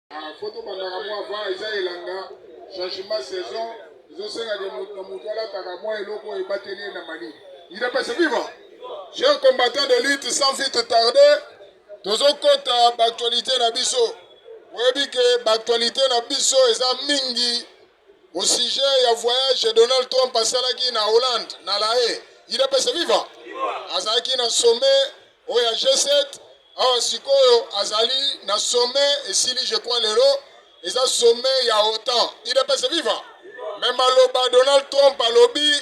Ah, faut tobandaka mwa va eza elanga changement saison ezosengaka moto na moto alataka mwa eloko oyo ebateli ye na mani idepese viva cher combattant de lutte sans vite tarde tozokota baaktualité na biso oyebi ke baaktualité na biso eza mingi Au sujet ya voyage Donald Trump asalaki na Hollande na La Haye, UDPS viva! Azalaki na sommet oyo ya G7 awa sikoyo azali na sommet esili je crois lelo eza sommet ya OTAN. UDPS viva! Mais maloba Donald Trump alobi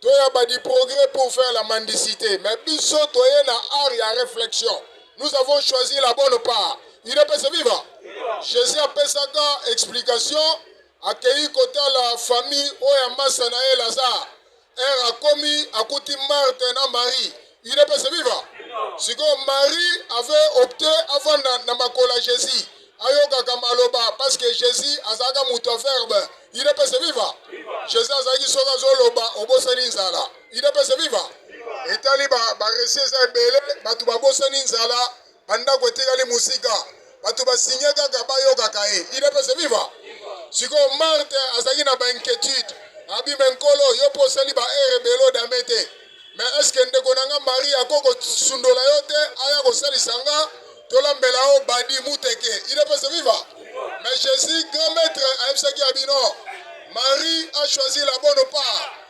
to ya ba du progrès pour faire la mendicité mais biso toye na art ya réflexion nous avons choisi la bonne part udps viva jésus apesaka explication akei kotala famille oyo ya masa na ye lazare ere akomi akuti marte na marie udps viva sikoyo marie avait opte avanda na makolo ya jésus ayokaka maloba parce que jésus azalaka moto ya verbe udps viva jésus azalaki soki azoloba obosani nzala udps viva etali baresi eza ebele bato babosani nzala bandako etikali mosika bato basigne kaka bayokaka ye idps viva sikoyo marte azalaki na bainquiétude abime nkolo yo mpo osali baere ebele odame te me eske ndeko na nga marie ako kosundola yo te aya kosalisa nga tolambela yo badi muteke idps viva me jésus grand maître ayebisaki ya bino marie a choisi la bonne part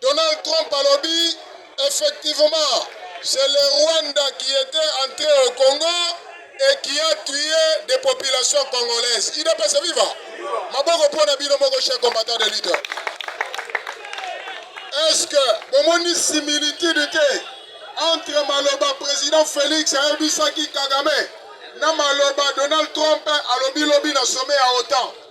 Donald Trump alobi effectivement c'est le Rwanda qui était entré au Congo et qui a tué des populations congolaises. Il pas se vivre. Maboko pour na bino moko chers combattants de lutte. Est-ce que bomoni similitude te entre maloba président Félix ayebisaki Kagame na maloba Donald Trump alobi lobi na sommet ya OTAN?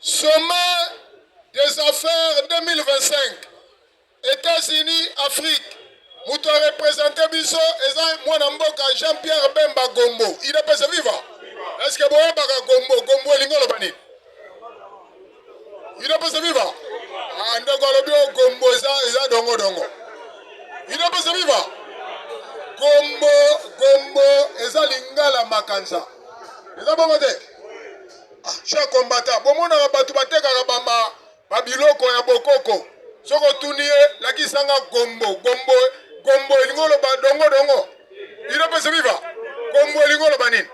Sommet des affaires 2025 Etats-Unis Afrique moto a represente biso eza mwana mboka Jean Pierre Bemba Gombo il est pesa viva est-ce que boyebaka Gombo Gombo elingi oloba nini il est pesa viva ah ndeko alobi o Gombo eza eza dongo dongo il est pesa viva Gombo Gombo eza lingala makanza eza bongo te Cher combattant, bomonaka bato batekaka bama babiloko ya bokoko soki otuni ye lakisanga gombo gombo gombo elingi oloba dongo dongo ino mpe sobiva gombo elingi oloba nini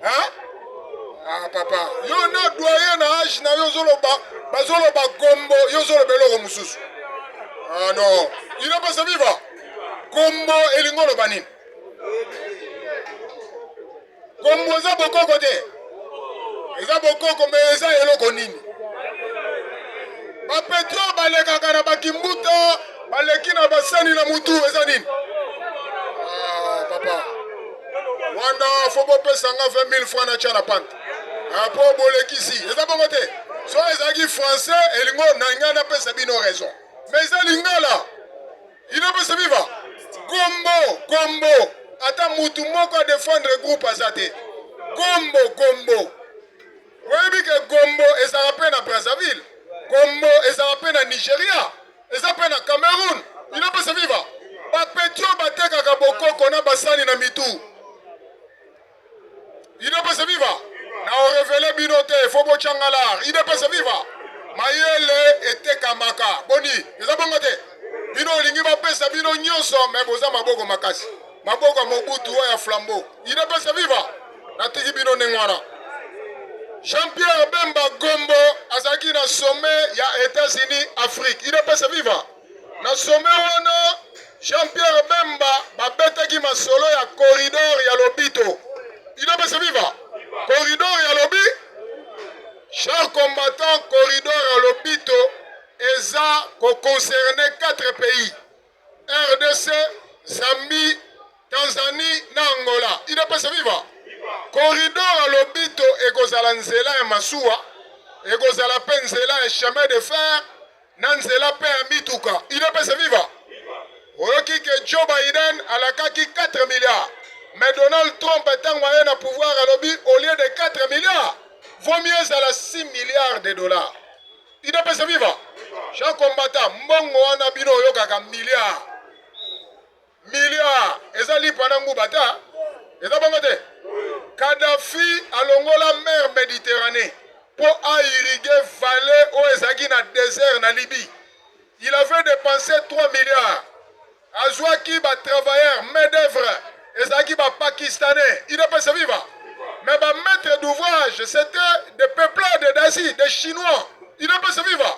ah papa yo na doye na age na yo ozoloba bazoloba gombo yo ozoloba eloko mosusu ah non ino mpe sobiva gombo elingi oloba nini Kombo eza bokoko te, eza bokoko me eza eloko nini? Bapetro balekaka na bakimbuta baleki na basani na mutu eza nini? Ah, papa wana fo bopesa nga 20 000 francs natya na pante apo ah, bolekisi eza bongo te so ezalaki français elingo na ngai napesa bino raison mais eza lingala Inopesa viva kombo kombo ata mutu moko a defendre groupe aza te kombo kombo oyebi ke kombo ezala mpe na brazzaville kombo ezala mpe na nigeria eza mpe na cameroun inopesa viva bapetio batekaka bokoko na basani na mitu idepese viva na orevele bino te fo botyanga lar idepese viva mayele etekamaka boni eza bongo te bino olingi bapesa bino nyonso me boza maboko makasi maboko ya mobutu oyo ya flambo idepese viva natiki bino ndenge wana jean-pierre bemba gombo azalaki na sommet ya etats-unis afrique idepese viva Na sommet wana, Jean-Pierre Bemba babetaki masolo ya corridor ya Lobito. Bino pesa viva. Corridor ya Lobi. Cher combattant, corridor ya Lobito eza ko concerner 4 pays. RDC, Zambie, Tanzanie na Angola. Ina pesa viva. Corridor ya Lobito ekozala nzela ya masuwa, ekozala pe nzela ya chemin de fer na nzela mpe ya mituka udps viva oyoki ke joe biden alakaki 4 milliards mais donald trump ntango aye na pouvoir alobi au lieu de 4 milliards vaut mieux ezala 6 milliards de dollars udps viva jean combata mbongo wana bino oyokaka milliards Milliard eza lipa na nguba ta eza bongo te. Kadhafi alongola mer Mediterranee mpo a irriguer vallée oyo ezalaki na désert na Libye. Il avait dépensé 3 milliards. Azwaki ba travailleurs main d'œuvre ezalaki ba pakistanais. Il est passé viva. Mais ba maîtres d'ouvrage c'était des peuplades d'Asie, des chinois. Il est passé viva.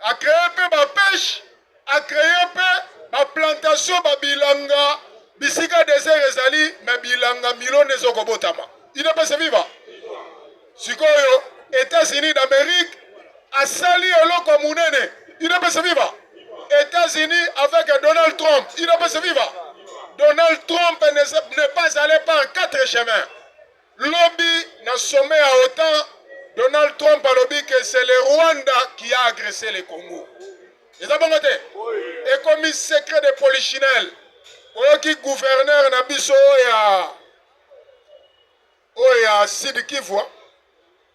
A cree pe ba peche, a cree pe ba plantation ba bilanga bisika desert ezali me bilanga milona ezo kobotama. Udps viva! Sikoyo Etats-Unis d'Amerique asali eloko munene. Udps viva! États-Unis avec Donald Trump. Il ne peut se vivre. Donald Trump n'est pas allé par quatre chemins. Lobi na sommet ya otan, Donald Trump alobi que c'est le Rwanda qui a agressé le Congo. Eza bongo te? Ekomi secret de polichinelle. Oyoki gouverneur na biso ya oyo ya Sud Kivu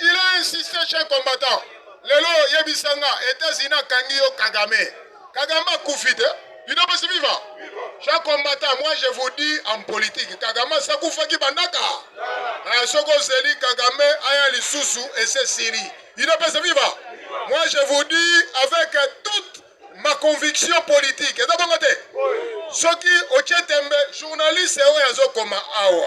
Il a insisté chez combattant. Lelo yebisa nga États-Unis akangi yo Kagame. Kagame akufi te. Bino basi viva. Chez combattant, moi je vous dis en politique, Kagame asakufaki bandaka. Eh, soko ozeli Kagame aya lisusu et c'est Syrie. Bino basi viva. Moi je vous dis avec toute ma conviction politique. Eza bongo te. Soki otie tembe journaliste oyo azokoma awa.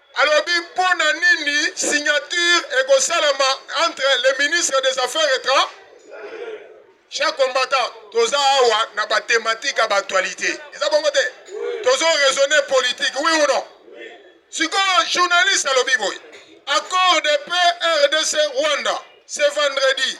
Alobi mpo na nini signature ekosalama entre le ministre des affaires étrangères chaque combattant toza awa na ba thématique ya ba actualité eza bongo te tozo raisonne politique oui ou non sikoyo journaliste alobi boye accord de paix rdc rwanda ce vendredi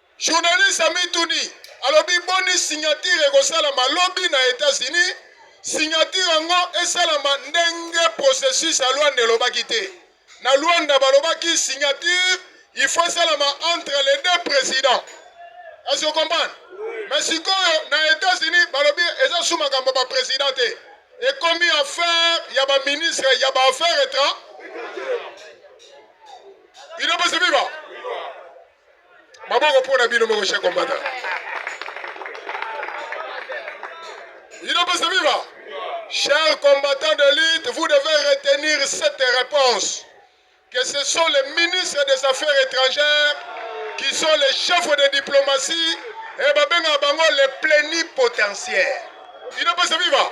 Journaliste amituni alobi boni signature ekosalama lobi na Etats-Unis, signature yango esalama ndenge processus ya Luanda elobaki te. Na Luanda balobaki signature il faut esalama entre les deux présidents. Est-ce que comprendre? Mais sikoyo na Etats-Unis balobi eza sous makambo ba président te. Ekomi affaire ya ba ministre ya ba affaires étrangères. Il est possible maboko mpo na bino moko chers combattants inopesa viva chers combattants de lutte vous devez retenir cette réponse que ce sont les ministres des affaires étrangères qui sont les chefs de diplomatie et babengaka bango les plénipotentiaires inopesa viva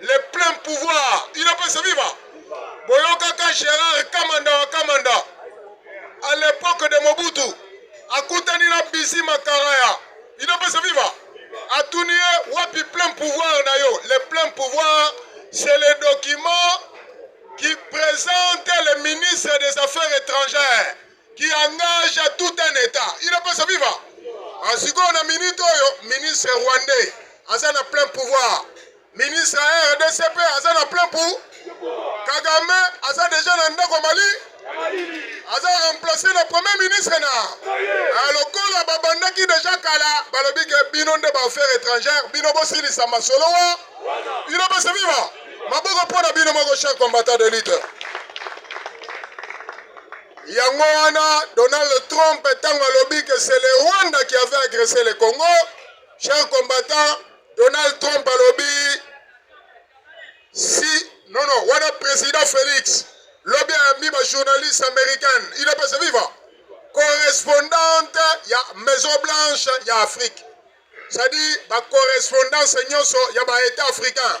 Le plein pouvoir inapesa viva boyokaka Gerard Kamanda wa Kamanda à l'époque de Mobutu akutani na Bisi Makaraya inapesa viva atuni ye wapi plein pouvoir na yo le plein pouvoir c'est le document qui présente le ministre des affaires étrangères qui engage à tout un état il ne peut se vivre ah, sikoyo na minute oyo ministre rwandais aza na plein pouvoir ministre ya rdcp aza na plein pour kagame aza deja na ndako mali aza remplace na premier ministre na ah, lokola babandaki deja kala balobi ke bino nde baaffaire étrangère bino bosilisa masolo wa bino bose viva maboko mpo na bino moko chaque combattant de lutte Yango wana Donald Trump ntango alobi que c'est le Rwanda qui avait agressé le Congo, cher combattant, Donald Trump alobi si non non wana président Félix lobi ayambi ba journaliste américaine il est passé vivant correspondante ya Maison Blanche ya Afrique c'est-à-dire ba correspondance nyonso ya ba état africain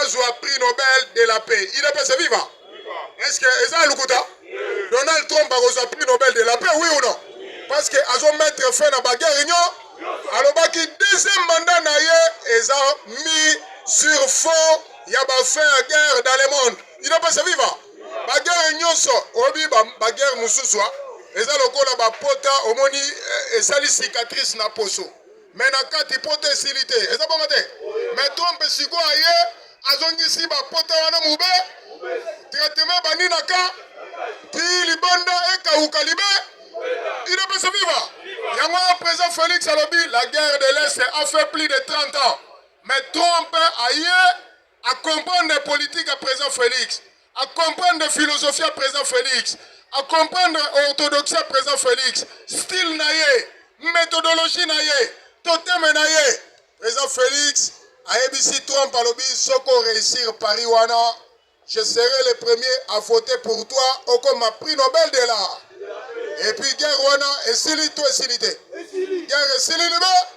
azwa prix nobel de la paix idps eviva est ce que eza ya lokuta donald trump akozwa prix nobel de la paix oui ou non parce que azo mettre fin na baguerre union alobaki deuxième mandat na ye eza mis sur fond ya bafin ya guerre dans le monde idps eviva baguerre nyonso oyebi baguerre mosusu eza lokola bapota omoni eh, esali cicatrice na poso me na kati pota esili te eza bongo te me trump sikoyo aye azongisi bapota wana mobe tretema ebandi na ka ti libanda ekauka libe inapesa viva yango ya président félix alobi la guerre de l'est a fait plus de 30 ans mais trump aye A comprendre politique ya president Felix, a comprendre philosophie ya president Felix, a comprendre orthodoxie ya president Felix, style na ye, methodologie na ye, toteme na ye. President Felix ayebisi Trump alobi soki o réussir Paris wana je serai le premier à voter pour toi okoma prix Nobel de l'art. Et puis guerre wana esili to esili te? Guerre esili libe?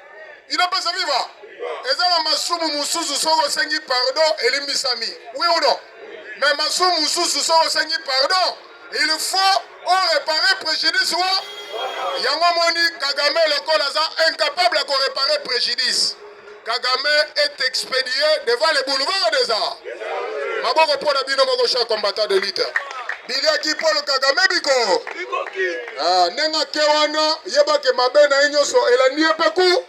inapesa viva eza na masumu mosusu soki osengi pardon elimbisami oui ou non mais masumu mosusu soki osengi pardon il faut orepare préjudice wa yango omoni kagame lokola aza incapable ya korepare préjudice kagame est expédié devant les boulevards des arts maboko mpo na bino moko cha combattant de lutte biliaki polo kagame biko Ah, ndenge ake wana yebake mabe na ye nyonso elandi ye mpe ku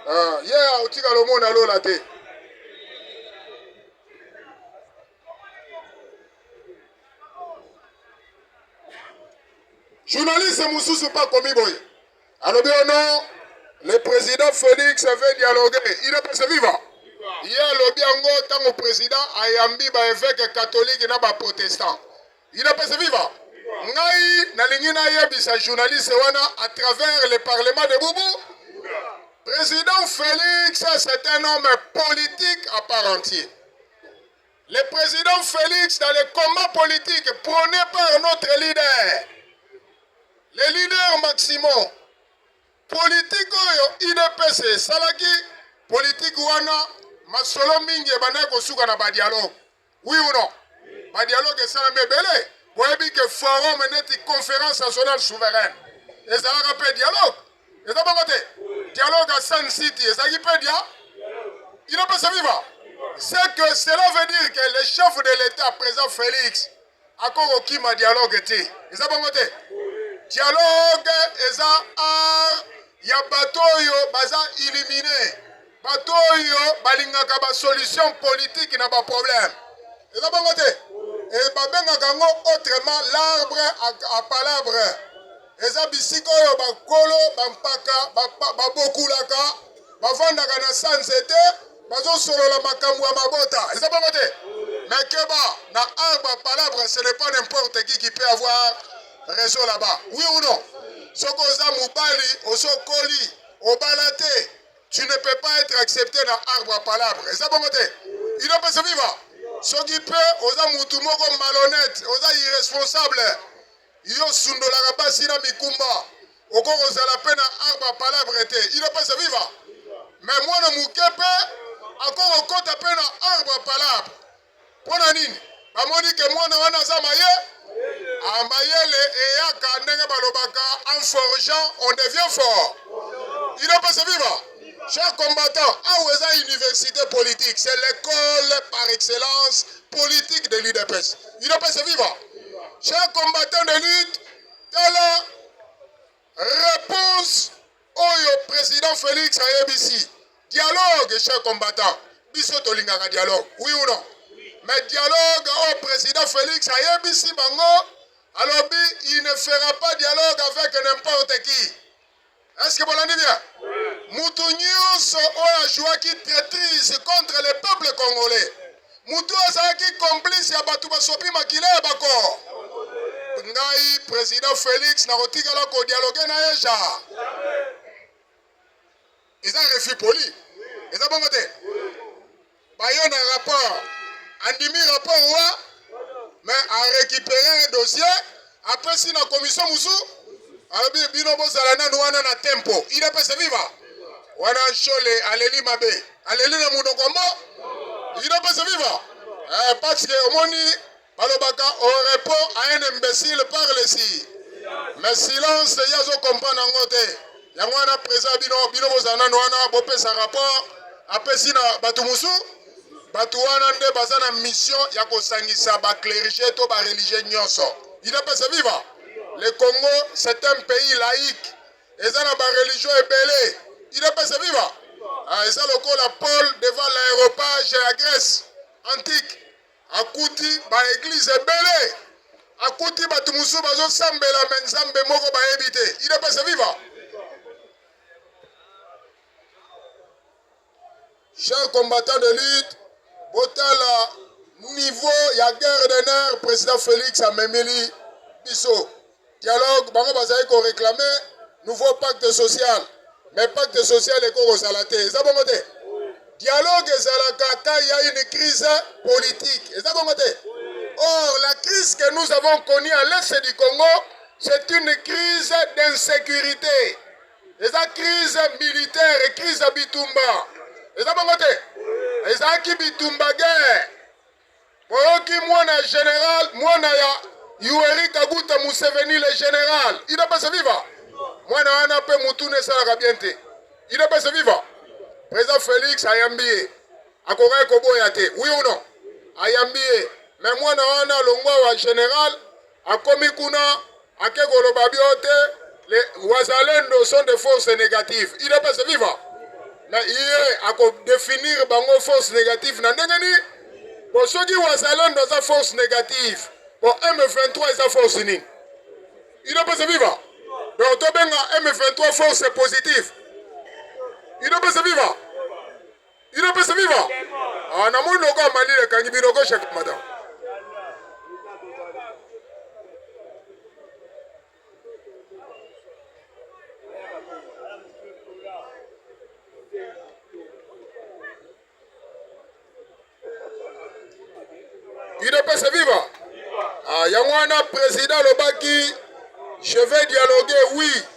ah, ye yeah, otika lomona lola te journaliste mosusu mpe akomi boye alobi ono oh le président félix avait dialogué il est passé vivant ye alobi yango ntango président ayambi baeveke katolike na baprotestant Inapese viva. Ngai nalingi nayebisa journaliste wana à travers le parlement de Boubou. Président Félix, c'est un homme politique à part entière. Le président Félix, dans les combats politiques prônés par notre leader, le leader Maximum, politique oyo udps esalaki politiki wana masolo mingi ebandaki kosuka na badialogue Oui ou non? Ba dialogue esalami ebele. Boyebi ke forum neti conference nationale souveraine ezalaka pe dialogue. Eza bongo te? Dialogue ya Sun City ezalaki pe dia inapesa viva. C'est que cela veut dire que le chef de l'État, président Félix, Ako kokima dialogue te. Eza bongo te. Dialogue eza art ya bato oyo baza illumine, bato oyo balingaka ba solution politique na ba problème. Eza bongo te. E babengaka yango autrement l'arbre à palabre. Eza bisika oyo bakolo bampaka babokulaka ba bavandaka na sa nzete bazosolola makambo ya mabota eza bongo te mais keba na arbre palabre ce n'est pas n'importe qui qui peut avoir réseau là-bas oui ou non soki oza mobali osokoli obala te tu ne peux pas être accepté na arbre palabre eza bongo te inopesa viva soki mpe oza mutu moko malhonnête oza irresponsable Yo sundolaka basi na mikumba. Oko kozala pe na arba palabre te. Ino pesa viva. Mais mwana moke pe ako kokota pe na arba palabre. Pona nini? Bamoni ke mwana wana aza maye. Ah, mayele eyaka ndenge balobaka en forgeant on devient fort. Ino pesa viva. Chers combattants, awa eza université politique, c'est l'école par excellence politique de l'UDPS. Udps viva! Chers combattants de lutte, tala réponse oyo président Félix ayebisi. Dialogue, chers combattants. Biso tolingaka dialogue, oui ou non? Mais dialogue au président Félix ayebisi bango alobi il ne fera pas dialogue avec n'importe qui. Est-ce que bolandi bien? Mutu nyonso oyo ajouaki traitrise contre le peuple congolais, mutu oyo azalaki complice ya bato basopi makila ya bako, ngai president Felix nakotikaala kodialoge na ye ja. eza refus poli eza bongo te baye na rapport andimi rapport wa mais a récupéré un dossier apesi na commission mosusu alobi bino bozala nanu wana na tempo idps viva wana nshole aleli mabe aleli na monoko mbo idps viva eh, parce que omoni balobaka au oh, repos à un imbécile parle si mais silence ye azo comprendre yango te yango wana présa bino bino bozala nano wana bopesa rapport apesi na bato mosusu bato wana nde baza na mission ya kosangisa baclerige to bareligie nyonso idapesa viva le congo c'est un pays laïque eza na bareligion ebele idapesa viva ah, eza lokola paul devant l'aéropage ya grèce antique akuti ba eglise ebele akuti bato mosusu bazosambela me nzambe moko bayebi te idepese viva cher combattant de lutte botala niveau ya guerre de nerf président félix amemeli biso Dialogue bango bazali ko reclamer nouveau pacte social mais pacte social eko kozala te eza bongo te dialogue ezalaka quand il y a une crise politique eza bongo te or la crise que nous avons connue à l'est du Congo c'est une crise d'insécurité eza crise militaire et crise ya bitumba eza bongo te ezalaki bitumba guerre Boyoki mwana ya general, mwana ya Yoweri Kaguta Museveni le general. Ina pesa viva. Mwana wana pe mutu ne salaka bien te. Ina pesa viva. President Felix ayambi ye. Akokaki koboya te. Oui ou non? Ayambi ye. Mais mwana wana longwa wa general akomi kuna ake koloba bio te le wazalendo sont des forces négatives idps viva na iye akodefinir bango force négative na ndenge nini po soki wazalendo aza force négative po m23 eza force nini idps viva donc tobenga m23 force positive idps viva Ino pesa viva. Ah, na moni logo amali le kangi bino gauche avec madame. Ino pesa viva. Ah, yango wana président lobaki je vais dialoguer oui.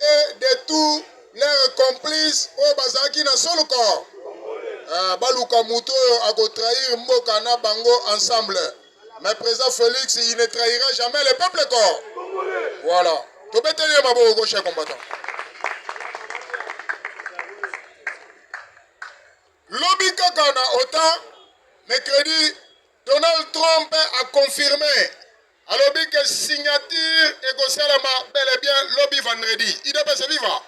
et de tous leurs complices oyo bazalaki na soluka ah, baluka moto oyo akotrahir mboka na bango ensemble mais président Félix il ne trahira jamais le peuple ko voilà tobeteli ye maboko gauche ya combattant lobi kaka na otan mercredi donald trump a confirme alobi ke signature ekosalama bel et bien lobi vendredi udps viva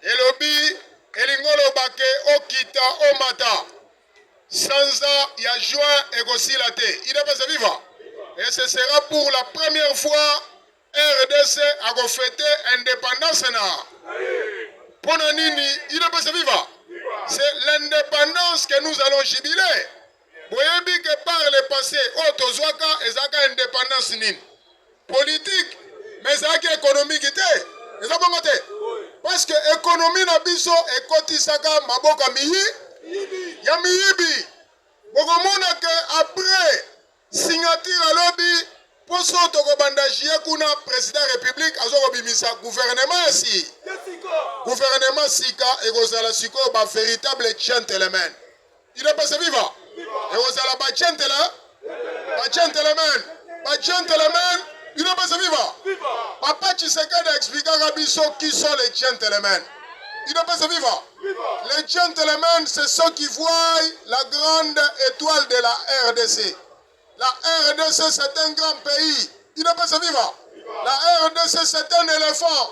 elobi elingi oloba ke okita omata sanza ya juin ekosila te udps viva et ce sera pour la première fois rdc akofete indépendance na mpo na nini udps viva c'est l'indépendance que nous allons jubiler Boyebi que par le passé oyo tozwaka ezalaka independance nini? Politique mais ezalaki économique te, eza bongo te? Parce que économie na biso ekotisaka maboka miyi ya miyibi. Bokomona que après signature ya lobi poso tokobanda jie kuna président république azokobimisa gouvernement ya si gouvernement sika ekozala sikoyo ba véritable gentleman Idepese viva! Ekozala ba gentele, ba gentlemen, ba gentlemen, Idepese viva! Papa Tshisekedi explikaka biso qui sont les gentlemen. Idepese viva! Les gentlemen, c'est ceux qui voient la grande étoile de la RDC. La RDC, c'est un grand pays. Idepese viva! La RDC, c'est un éléphant.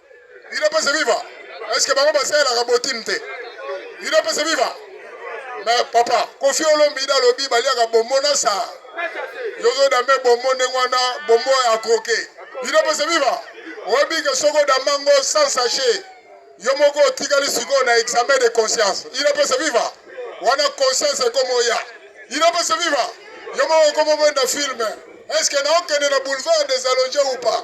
Udps viva. Est-ce que bango basalelaka botime te? Udps viva. Mais papa, Kofi Olomide alobi baliaka bombo na sa. Yozo dame bombo ndenge wana bombo ya kroke. Udps viva. Oyebi ke soko damango sans sachet. Yo moko otikali sikoyo na examen de conscience. Udps viva. Wana conscience ekomi oya. Udps viva. Yo moko okomi obenda filme. Est-ce que naokende na boulevard des allongés ou pas?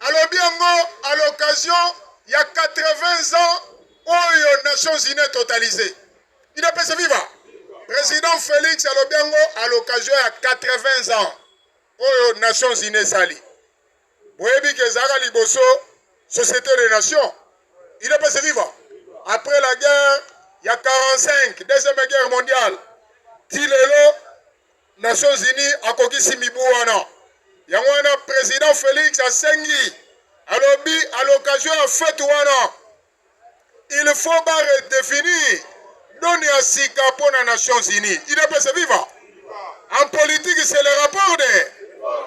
Alobi yango à l'occasion ya 80 ans oyo Nations Unies totalisee. Udps viva! Président Félix alobi yango à l'occasion ya 80 ans oyo Nations Unies esali. Boyebi ke ezalaka liboso Société des Nations. Udps viva! Après la guerre ya 45, deuxième guerre mondiale, ti lelo Nations Unies akokisi mibu wana. Yango wana president Felix asengi alobi à l'occasion ya fete wana il faut ba redefinir doni ya sika mpo na Nations Unies. Idepese viva! En politique c'est le rapport de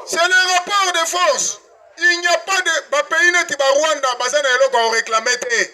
c'est le rapport de force. Il n'y a pas de ba pays neti ba Rwanda baza na eloko ya réclamer te.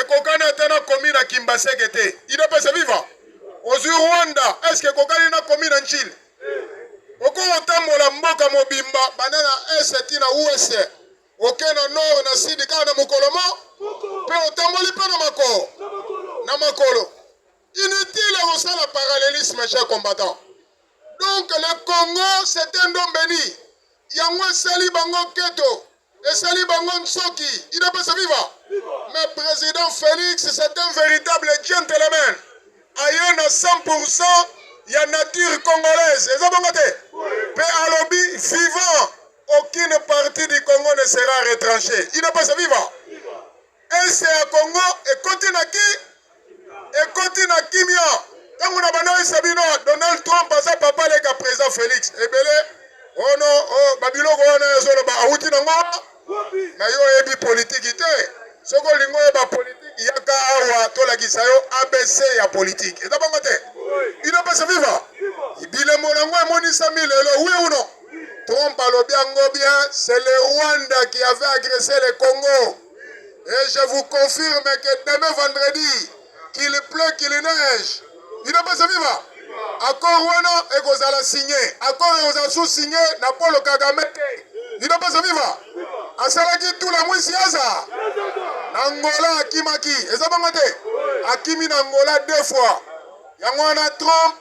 ekokani ata na komi na kimbaseke te idepese viva ozwi rwanda eske ekokani na komi na ncili okoki kotambola mboka mobimba banda na est ti na us oke na nord na sud kaka na mokolo mo mpe otamboli mpe na makolo na makolo inutile ya kosala parallelisme cher combattant donc le congo c'est un don beni yango esali bango keto esali bango nsoki idps viva mais president felix c'est un véritable gentleman aye na 100 ya nature congolaise eza bongo te mpe alobi vivant aucune partie du congo ne sera retranché idps viva Est ya Congo ekoti na ki ekoti na kimia tango na banda oyebisa bino Donald Trump aza papa leka president Felix ebele ono oh o oh, babiloko wana ezoloba awuti nango na yo oyebi politiki te soki olingi oyeba politiki yaka awa tolakisa yo abc ya politiki eza bango te ino pesa viva bilembo nango emonisami lelo wi uno Trump alobi yango bien, c'est le Rwanda qui avait agressé le Congo. Et je vous confirme que demain vendredi, qu'il pleut, qu'il neige, il ne peut se vivre. Accord wana ekozala signé. Accord ekozala sous signé na Paul Kagame te. Il ne peut se vivre. Asalaki tout la mwisi aza. Na Angola akimaki. Eza bango te. Akimi na Angola deux fois. Yango wana Trump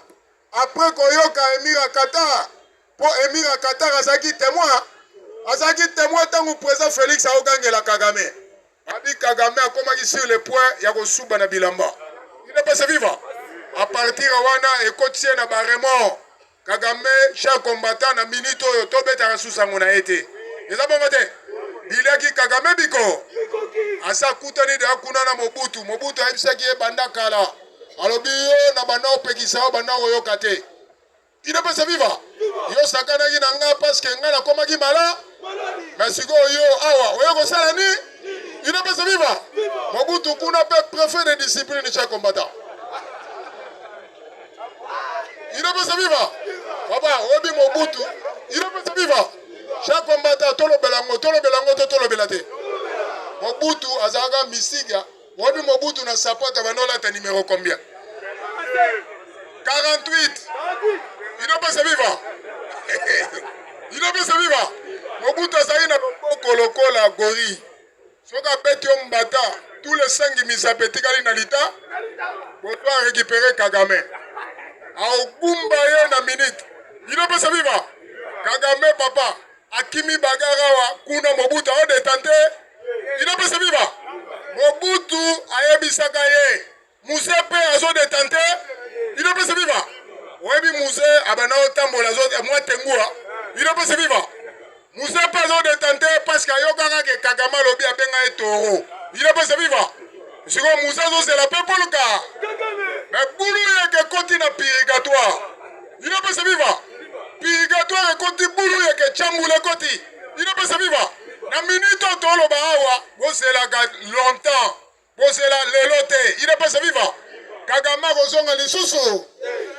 Après koyoka Emir ya Qatar, po Emir ya Qatar azalaki temoin, azalaki temoin tango president Felix aogangela Kagame. Abi Kagame akomaki sur le point ya kosuba na bilamba. Il n'est pas se vivre. A partir wana ekotisi ye na ba remords. Kagame cher combattant na minute oyo tobetaka susu yango na ye te. Eza bongo te? Biliaki Kagame biko. Asa kutani deja kuna na Mobutu. Mobutu ayebisaki ye banda kala. alobi yo na banda opekisa yo banda oyoka te inapesa viva yo sakanaki na nga paske nga nakomaki mala me sikoyo yo awa oyo kosala ni inapesa viva mobutu kuna mpe prefet de discipline cha combattant inapesa viva baba oyebi mobutu inapesa viva cha combattant tolobela yango tolobela yango to tolobela te mobutu azalaka misiga Wapi Mobutu na sapato abanda olata numero combien 48 inopesa viva inopesa viva Mobutu azali na loboko lokola gori soki abeti yo mbata tous les sangi misape etikali na lita boto a récupéré Kagame aogumba ye na minute inopesa viva Kagame papa Akimi bagarre awa kuna Mobutu azo detente. Il a pesa viva. Mobutu ayebisaka ye. Muze pe azo detente. Il a pesa viva. Oyebi muze abana otambola azo mwa tengua. Il a pesa viva. Muze pe azo detente parce que ayokaka ke Kagame alobi abenga ye toro. Il a pesa viva. Siko muze azo zela pe poluka. Mais bulu yeke koti na purigatoire. Inapesa viva. Purgatoire ekoti bulu yeke chambula ekoti. Inapesa viva. Na minute oyo toloba awa bozelaka longtemps. Bozela lelo te. Inapesa viva. Kagame akozonga lisusu.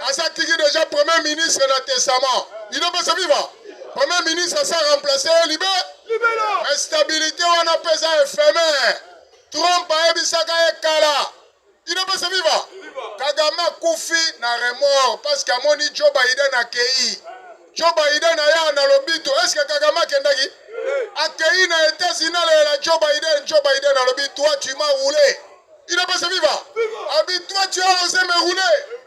Asa tiki deja premier ministre na testament. Inapesa viva. Premier ministre asa remplacer ye libe. Libela. Stabilité wana pesa éphémère. Trump ayebisaka ye kala. Udps viva! Kagame akufi na remords parce que amoni Joe Biden akei. Joe Biden aya na lobito. Est-ce que Kagame akendaki? Akei na Etats-Unis alela Joe Biden. Joe Biden alobi toi tu m'as roulé. Udps viva! Abi toi tu as osé me rouler.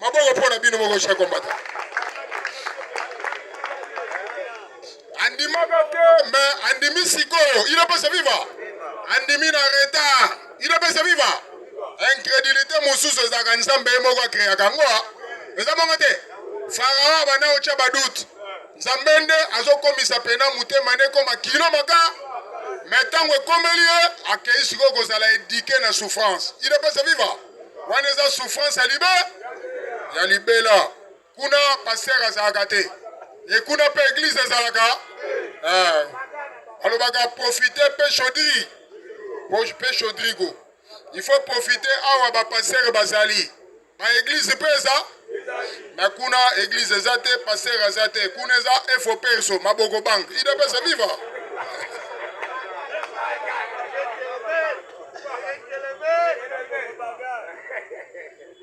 maboko mpo na bino moko chers combattants andimaka te me andimi sikoyo inopesa viva andimi na retard inopesa viva incrédulité mosusu ezalaka nzambe ye moko akreaka yango eza moko te farao abanda kotya badoute nzambe nde azokomisa mpena motema nde ekoma kilo maka me ntango ekomeli ye akei sikoyo kozala edike na souffrance inopesa viva wana eza souffrance ya libe ya libela kuna pasteur azalaka te e kuna mpe eglize ezalaka eh. alobaka profite mpe chaudri mpe chaudrigo il faut profite awa bapastere bazali baeglize mpe eza na kuna eglise eza te paster aza te kuna eza efo perso maboko bank idps viva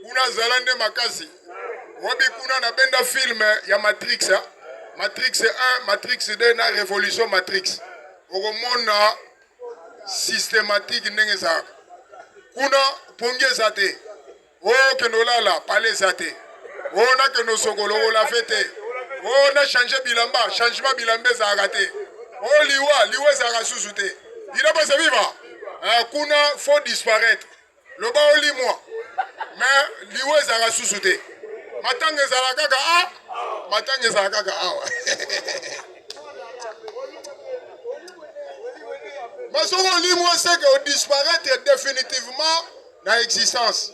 kuna azala nde makasi wabi kuna nabenda filme ya matrix ha? matrix 1 matrix 2 na révolution matrix okomona systématique ndenge ezalaka kuna pongi eza te Oh kende olala pale eza te. Oh na kende osokolo olave te. Oh na change bilamba changement bilamba ezalaka te. Oh liwa liwa ezalaka susu te. Ina basa viva. Eh, kuna faut disparaître. Loba olimwa. Mais liwa ezalaka susu te. Matanga ezalaka kaka ah matanga ezalaka kaka awa. Masoko olimwa seke o disparaître définitivement. na existence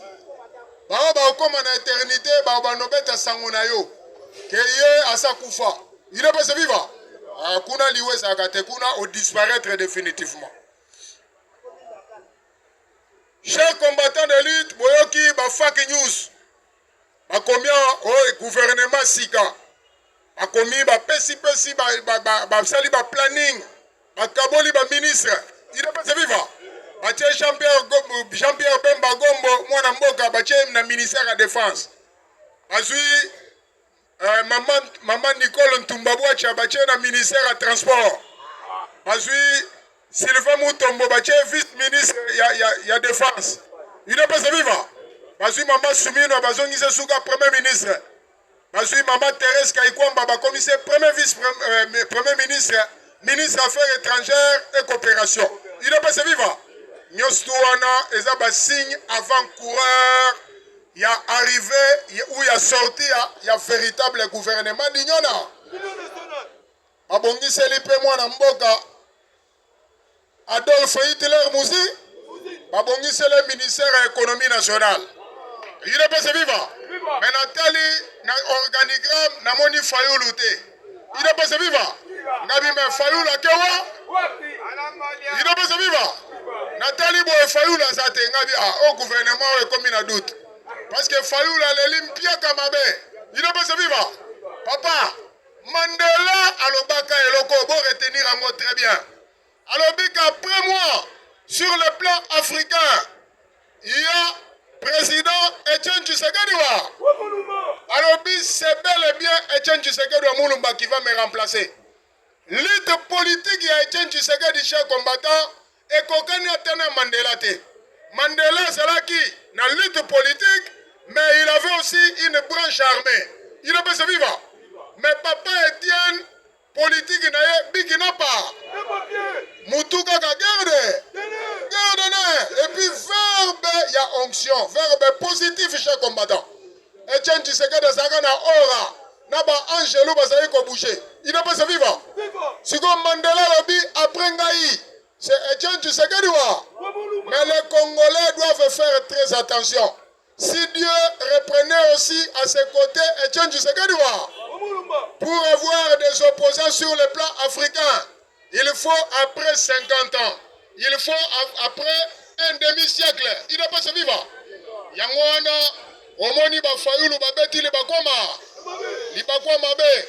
baoyo bakokoma na eternite bao banobeta sango na yo ke ye asa kufa il est pas viva ah, kuna liwa ezalaka te kuna odisparaître définitivement chers combattants de lutte boyoki ba fake news bakomi awa oyo guvernema sika bakomi bapesipesi basali ba, ba, ba planning bakaboli baministre idepese viva batie jean pierre, jean pierre bemba gombo mwana mboka batie na ministère ya defense bazwi Eh, mama, mama Nicole Ntumba Bwacha batie na ministère ya transport bazwi Sylvain Mutombo batie vice ministre ya, ya, ya défense udepese viva bazwi mama Sumino bazongise suka premier ministre bazwi mama Therese Kaikwamba bakomise premier vice euh, premier ministre ministre affaires étrangères et coopération udepese viva nyonso wana eza basigne avant coureur ya arrivee ou ya sortie ya, ya veritable gouvernement d'union na babongiseli mpe mwana mboka Adolf Hitler Muzi babongisele ministère ya économie nationale yule pese viva me natali na organigramme namoni fayulu te Idepese viva! Ngabi me Fayulu ake wa? Idepese viva! Natali boye Fayulu aza te ngabi a ah, o oh, gouvernement oyo ekomi na doute. Parce que Fayulu aleli mpiaka mabe. Idepese viva! Papa, Mandela alobaka eloko bo retenir yango très bien. alobi qu'après moi sur le plan africain il y a président Etienne Tshisekedi wa alobi c'est bel et bien Etienne Tshisekedi wa Mulumba qui va me remplacer lutte politique ya Etienne Tshisekedi chez combattant ekokani ata na Mandela te Mandela azalaki na lutte politique mais il avait aussi une branche armée il est viva mais papa Etienne Politique na ye biki na pa. Mutu kaka gerde. Gerde ne. Et puis verbe ya onction. Verbe positif chez combattant. Etienne Tshisekedi azalaka na aura. Na ba angelo bazali ko bouger. Il n'est pas vivant. Siko Mandela lobi après ngai. C'est Etienne Tshisekedi wa. Mais les Congolais doivent faire très attention. Si Dieu reprenait aussi à ses côtés Etienne Tshisekedi pour avoir des opposants sur le plan africain, il faut après 50 ans, il faut après un demi-siècle, il doit pas se vivre. Yango wana omoni ba fayulu babeti libakoma libakoma be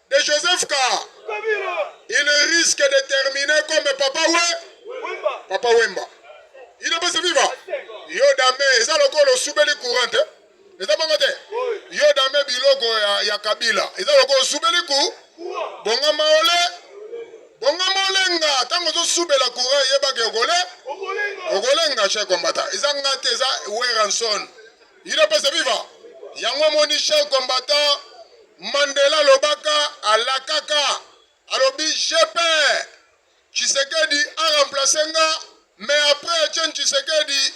de Joseph Car. Il risque de terminer comme Papa Wemba. Papa Wemba. Il n'est pas vivant. Yo dame, eza lokolo subeli courante. Eza bongo te. Yo dame biloko ya, ya Kabila. Eza lokolo subeli ku. Bonga maole. Bonga molenga. Tango zo subela courant yeba ke okole. Okolenga chez combattant. Eza ngate eza Weranson. Udps viva! Yango omoni chef combattant Mandela alobaka alakaka alobi je père Tshisekedi a remplace nga mais après Etienne Tshisekedi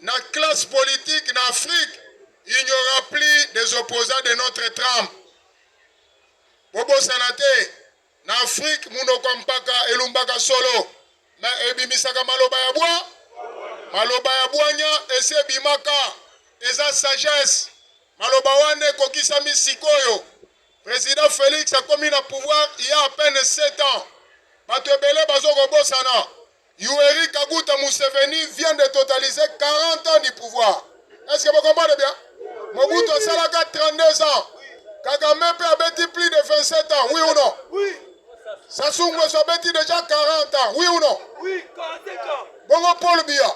na classe politique na Afrique il n'y aura plus des opposants de notre trempe bobosana te Na Afrique, munoko ya mpaka elumbaka solo me ebimisaka maloba ya bwa maloba ya bwanya esi ebimaka eza sagesse. Maloba wana ekokisami sikoyo. President Felix akomi na pouvoir il y a à peine 7 ans. Bato ebele bazokobosana Yueri Kaguta Museveni vient de totaliser 40 ans du pouvoir. Est-ce que vous comprenez bien Mobutu asalaka 32 ans. Kagame mpe abeti plus de 27 ans, oui ou non Oui. Sassou Nguesso abeti déjà 40 ans, oui ou non Oui, 45 ans. Bongo Paul Biya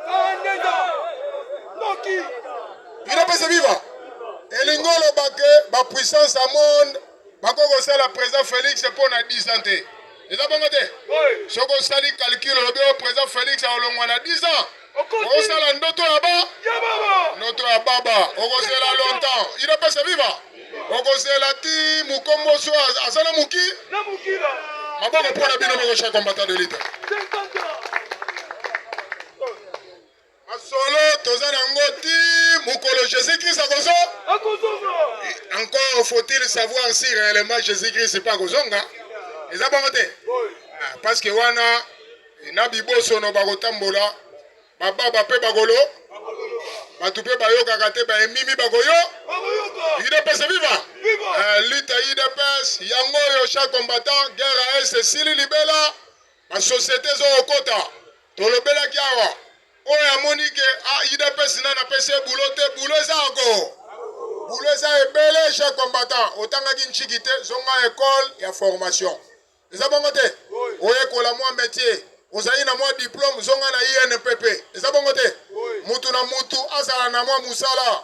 42 ans. Noki. Bino pese viva. Elingo olobake ba puissance ya monde Bako kosala president Felix mpo na 10 ans te. Eza bongo te? Soki osali calcul olobi oyo oh, president Felix akolongwa na 10 ans. Okosala ndoto ya ba ndoto ya baba. Okozela longtemps. Il est pas viva. Okozela ti mukombo so azana muki. Na mukila. Maboko mpo na bino bokosha combattant de lutte. Masolo toza na ngo ti mokolo Jésus Christ akozo akozonga. Encore faut-il savoir si réellement Jésus Christ pas akozonga. Eza bongo te. Ah, parce que wana na bibosono bakotambola bababa mpe bakolo bato mpe bayokaka te baemimi bakoyo udps viva eh, lutte udps yango oyo chaque combattant guerre ya est esili libela Ba societe ezo kokota. Tolobelaki awa. Oyo amoni ke ah, UDPS na napesi ye boulot te, boulot eza ako. Boulot eza ebele chez combattant. Otangaki nchiki te, zonga école ya formation. Eza bongo te? Oyekola mwa métier. Ozali na mwa diplôme, zonga na INPP. Eza bongo te? Mutu na mutu azala na mwa musala.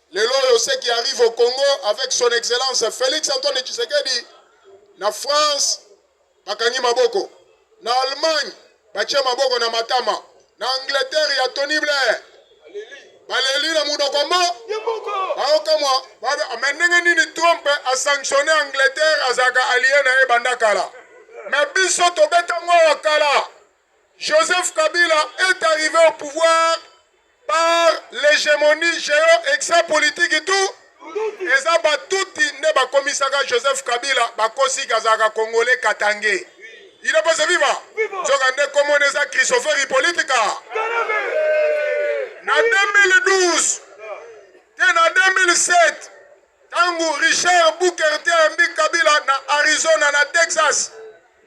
Lelo oyo ce qui arrive au Congo avec son excellence Felix Antoine Tshisekedi na France bakangi maboko, na Allemagne batie maboko na matama, na Angleterre ya Tony Blair baleli na monoko mo baokamwa me ndenge nini Trump asanctionne Angleterre azalaka alie na ye banda kala, me biso tobeta ngo ya kala Joseph Kabila est arrivé au pouvoir par l'hégémonie géo-exapolitique tout eza batuti nde bakomisaka Joseph Kabila bakosi kazalaka congolais katangais il est passé viva nzoka nde komona eza Christopher Hippolytica na 2012 te na 2007 ntango Richard Bukerte ayambi Kabila na Arizona na Texas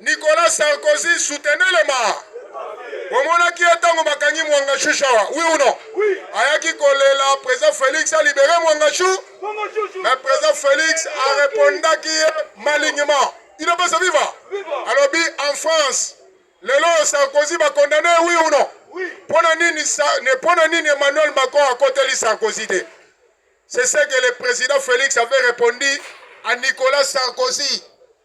Nicolas Sarkozy soutenait le ma. Bomonaki ye ntango bakangi Mwanga Chou Shawa, oui ou non? Oui. Ayaki kolela président Felix a libéré Mwanga Chou. Mwanga Chou. Mais président Felix a répondaki ye malignement. Il n'est pas à vivre. Alors bi en France, lelo Sarkozy ba condamné, oui ou non? Oui. Pona nini sa, ne pona nini Emmanuel Macron a koteli Sarkozy te? C'est ce que le président Félix avait répondu à Nicolas Sarkozy.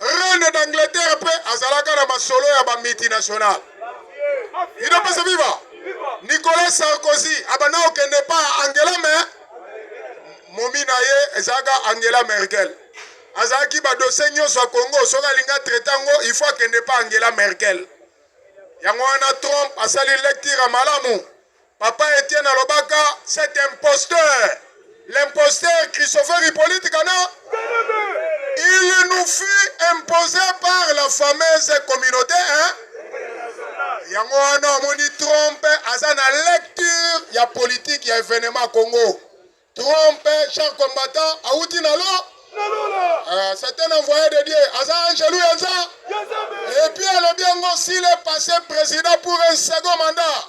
Reine d'Angleterre pe azalaka na masolo ya ba multinationale. Ino pesa viva. Nicolas Sarkozy abanda kokende pa Angela me momi na ye ezalaka Angela Merkel. Azalaki ba dossier nyonso ya Congo soki alinga traite yango il faut akende pa Angela Merkel. Yango wana Trump asali lecture malamu Papa Etienne alobaka cet imposteur, l'imposteur Christopher Hippolyte Kana, il nous fut imposé par la fameuse communauté hein? yango wana omoni trompe aza na lecture ya politike ya evenement congo trompe char combattant awuti na lo Uh, c'est un envoyé de Dieu. Aza Angelou Yanza. Et puis, elle a bien aussi le passé président pour un second mandat.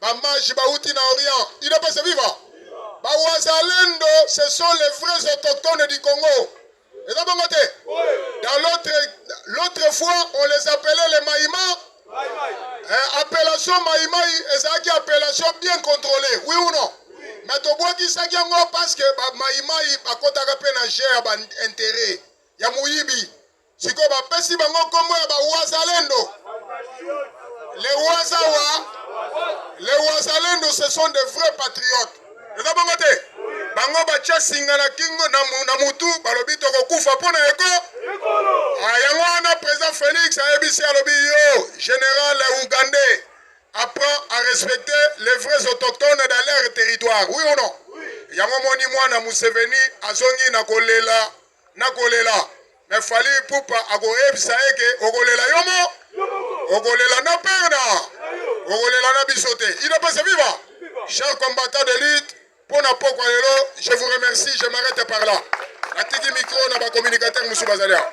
Ba mages bawuti na Orient. Il ne pas se vivre. Ba wazalendo, ce sont les vrais autochtones du Congo. Et dans bongo te. Dans l'autre, l'autre fois, on les appelait les Maïma. Eh, appellation Maïmaï, ezalaki appellation bien contrôlée. Oui ou non? Mais tobwakisaki yango parce que ba Maïmaï bakotaka mpe na jeu ya ba intérêt ya moyibi. sikoyo bapesi bango nkombo ya bawazalendo le wazawa le wazalendo ce sont de vrais patriotes eza bongo te bango batya singa na kingo na mutu balobi tokokufa mpo na eko ah, yango wana président félix ayebisi alobi yo général ougandais apprend à respecter les vrais autochtones dans leur territoire oui ou non yango moni mwana museveni azongi na kolela nakolela me fali pupa akoyebisa ye ke okolela yo mo okolela na mpe na okolela na biso te inopesa viva cher combattant de lutte mpo na pokwa lelo je vous remercie je m'arrête par là natiki micro na bacommunicateur mosusu bazali awa